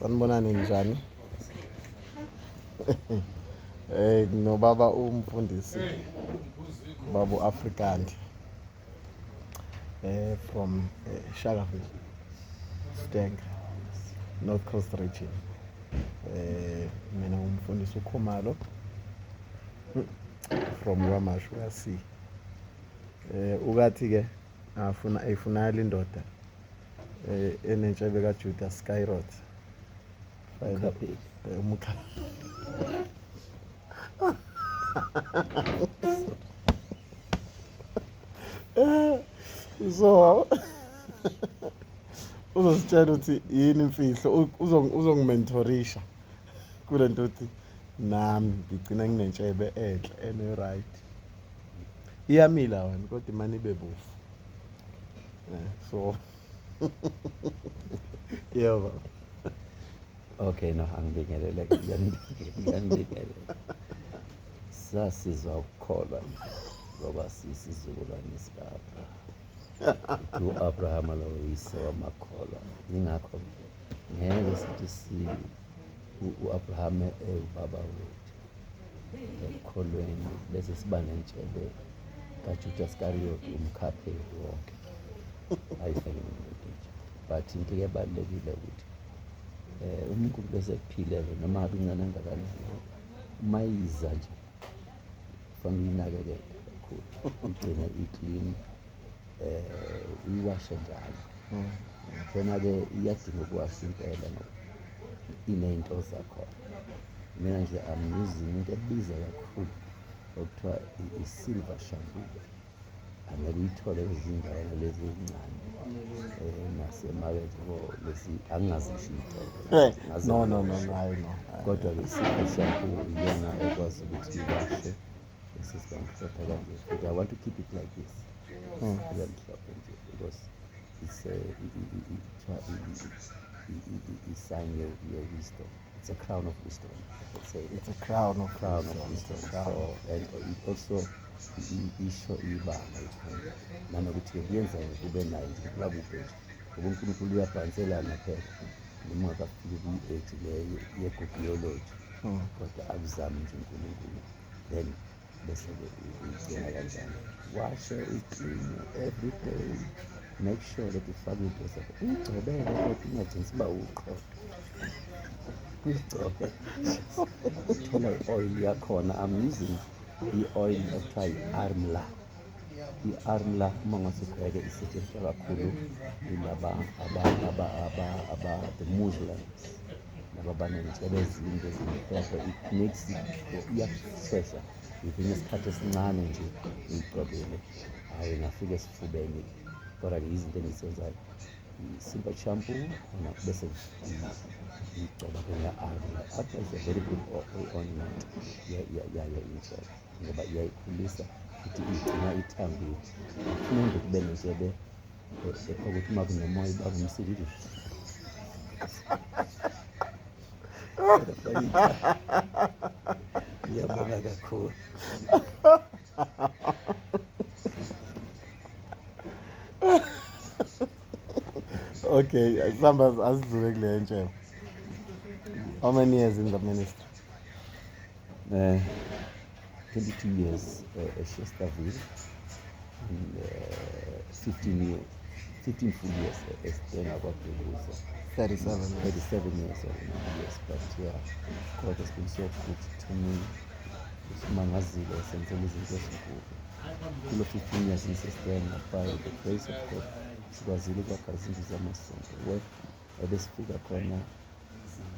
sanibonani njani eh nobaba umfundisi babu African eh from eh, Shakaville Stank North Coast region eh mina umfundisi uKhumalo from Ramashu uyasi eh ukathi ke afuna eyifunayela indoda eh, enentshebe kajuda skyrot umkha so uzositshela ukuthi yini imfihlo uzongimentorisha kule nto ukuthi nami ngigcina nginentshebe enhle ene-right iyamila wena kodwa imane ibe bofu eh, so yebo okay no angibingelele ngiyangibingelele sasizwa ukukholwa ngoba sisizukulwane sikapha u-abrahama lowo yise wamakholwa yingakho ngeke sithi si u-abrahame ewubaba wethu ekukholweni bese siba nentshebe kajuda sikariyoti umkhapheli wonke ayifele umuntu nje but into ebalulekile ukuthi um umuntu bese kuphilele noma ngabe incane angakanani uma yiza nje kufanele uyinakekele kakhulu igcine iklini um uyiwashe njalo mm. khona-ke iyadinga ukuwasha impela ngoba iney'nto zakhona mina nje am using into ebiza kakhulu okuthiwa i-silver shampoo angeke uyithole kwezindawo lezi ezincane um nasemakethe bo lezi angingazisho iy'tolo kodwa-ke i-silver shampoo iyona ekwazi ukuthi iwashe I want to keep it like this. Mm. Yeah, because it's a, it's sign your, your wisdom. It's a crown of wisdom. It's a, it's a crown of crown wisdom. Of wisdom. Crown. So, and it also isho ibanga ikhona nanokuthi kuyenza kube nayo nje kuba kude nje ngoba unkulunkulu uyabhanselana phela noma akafike kwi-age leyo yegobiology hmm. kodwa akuzami nje unkulunkulu then bese uyicinga kanjani washe uyicinge every day make sure that ufake into zakho uyigcobele kodwa ungagcini siba uqodo uyigcobe uthole i-oil yakhona i'm using i-oil ekuthiwa yi-armla i-armla uma ngase ubheke isetshenziswa kakhulu yilaba the muslims laba banezitshebe ezinde ezimhlophe it makes iyakushesha ngivine isikhathi esincane nje ngiyigcobile hhayi ngafika esifubeni kodwa ke izinto engizenzayo simba champu ona bese ngigcoba ke nga-armla armla is a very good ointment yayo indlela ngoba iyayikhulisa futhi igcina ithambile afuna nje kube neshebe ukuthi uma kunomoya uba kumsilile ngiyabonga kakhulu okay sihamba asidlule kule ntshe how many years in the ministry Uh, 22 years uh, at Chesterville, and, uh, 15 years, 15 full years as Stena Kwadukuza. 37 years. 37 years or years, but yeah, God has been so good to me. Usimangazile esenzela izinto ezinkulu. Kulo 15 years ngisestena by the grace of God sikwazile ukwakha izindlu zamasonto. ebesifika khona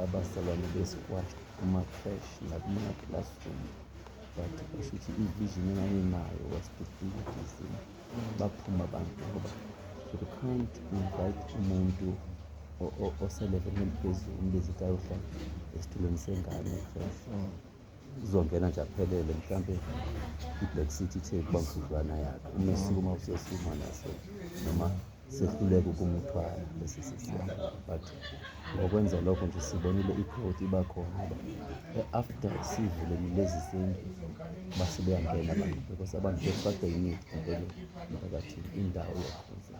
abazalwane besikwasho kuma-crash nakuma-classroom but basho ukuthi i-vision enganginayo was to be busy baphuma abantu ngoba you can't invite umuntu oselevelini eliphezulu umbizi kayohlala esitulweni sengane fresh uzongena nje aphelele mhlawumbe i-black city ithe kuba mfudlwana yakhe uma esukuma usesuma naso noma sehluleka ukumthwala lesi sisiyalo but ngokwenza lokho nje sibonile ikhodi iba khona after sivuleni lezi zindlu base beyangena abantu because abantu befakwe yimithi empeleni emphakathini indawo yakhona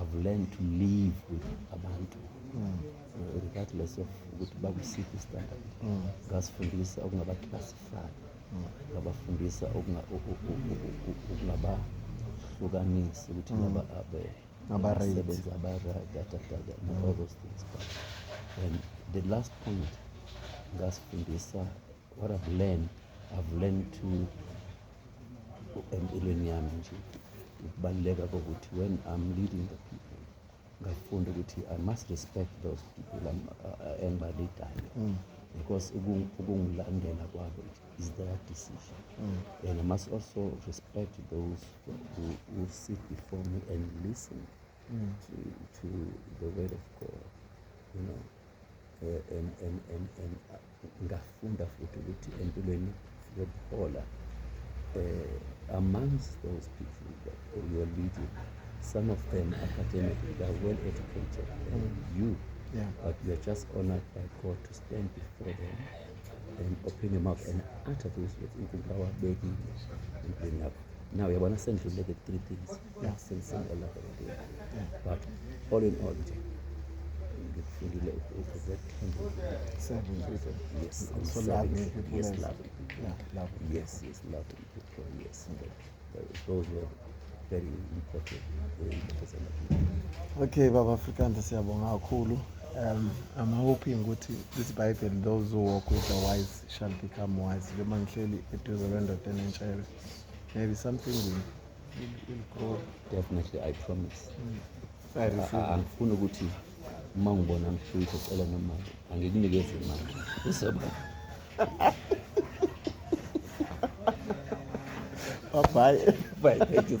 I've learned to live with abantu mm. regardless of ukuthi bakusiphi standard mm. ngasifundisa ukungabaclassify mm. ngabafundisa ukungabahlukanisi ukuthi mm. ngaba abe abasebenzi abaradadadada and all those things but and the last point ngasifundisa what I've learned I've learned to empilweni yami nje ukubaluleka kokuthi when I'm leading the people ngafunda ukuthi I must respect those people uh, engibalidayo mm. because ukungilandela kwabo is their decision mm. and I must also respect those who, who sit before me and listen mm. to, to the word of God you know uh, and, and, and, and uh, Ngafunda futhi ukuthi empilweni yokuhola uh, eh, amongst those people that you are leading some of them academically they are well educated and mm. you yeah. but you are just honored by God to stand before them and open your mouth and utter those words inkulunkulu awabekile empilweni yakho now uyabona sendluleke three things Okay, Baba Afrikaans siyabonga kakhulu. Um, I'm hoping ukuthi this Bible those who walk with the wise shall become wise. Njengoba ngihleli eduze kwendoda enentshebe. Maybe something will definitely i promise angifuni ukuthi uma ngibona mshuthe cela nemali angikunikeze imali uzoba bye bye thank you